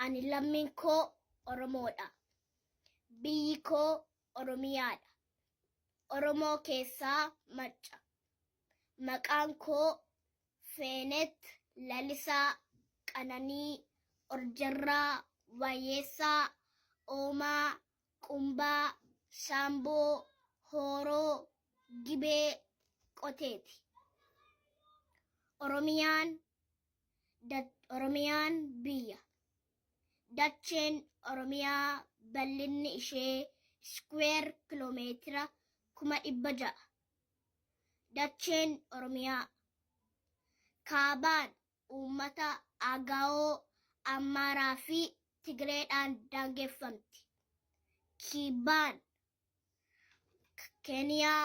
Ani lammiin koo Oromoodha. Biyyi koo Oromiyaadha. Oromoo keessaa Macca. Maqaan koo Feenet Lalisaa Qananii Orjarraa Waayyeessaa Oomaa Qumbaa Shaamboo Hooroo Gibee Qoteeti. Oromiyaan Oromiyaan biyya. Dacheen Oromiyaa bal'inni ishee iskuweer kiloomeetira kuma dhibba ja'a. Dacheen Oromiyaa kaabaan uummata Agaawoo, Ammaaraa fi Tigireedhaan daangeffamti. Kibbaan Keeniyaa,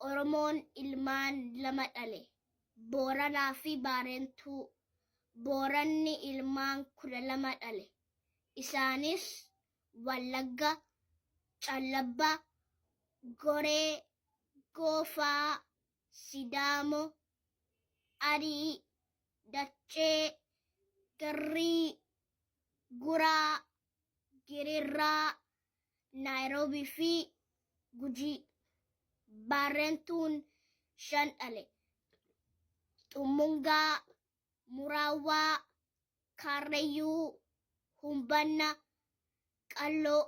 Oromoon ilmaan lama dhale. Booranaa fi Baarentuu. Booranni ilmaan 12 dhale. Isaanis Wallagga, Callabba, Goree, Goofaa, Sidaamo, Arii, Daccee, Garrii, Guraa, Girirraa, Naayiroobii fi Gujii Baarrentuun shan dhale. Xummungaa, Muraawwaa, Kaarrayyuu, Humbanna, Qalloo.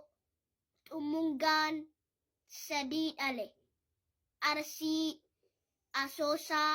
Xummungaan sadii dhale. Arsii, Asoosaa,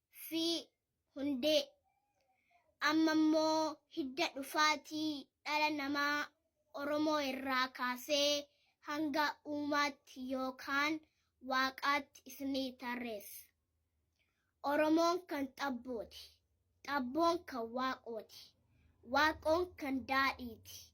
fi hundee. Amma immoo hidda dhufaatii dhala namaa Oromoo irraa kaasee hanga uumaatti yookaan Waaqaatti isinii tarreessa. Oromoon kan Xabbooti. Xabboon kan Waaqooti. Waaqoon kan Daadhiiti.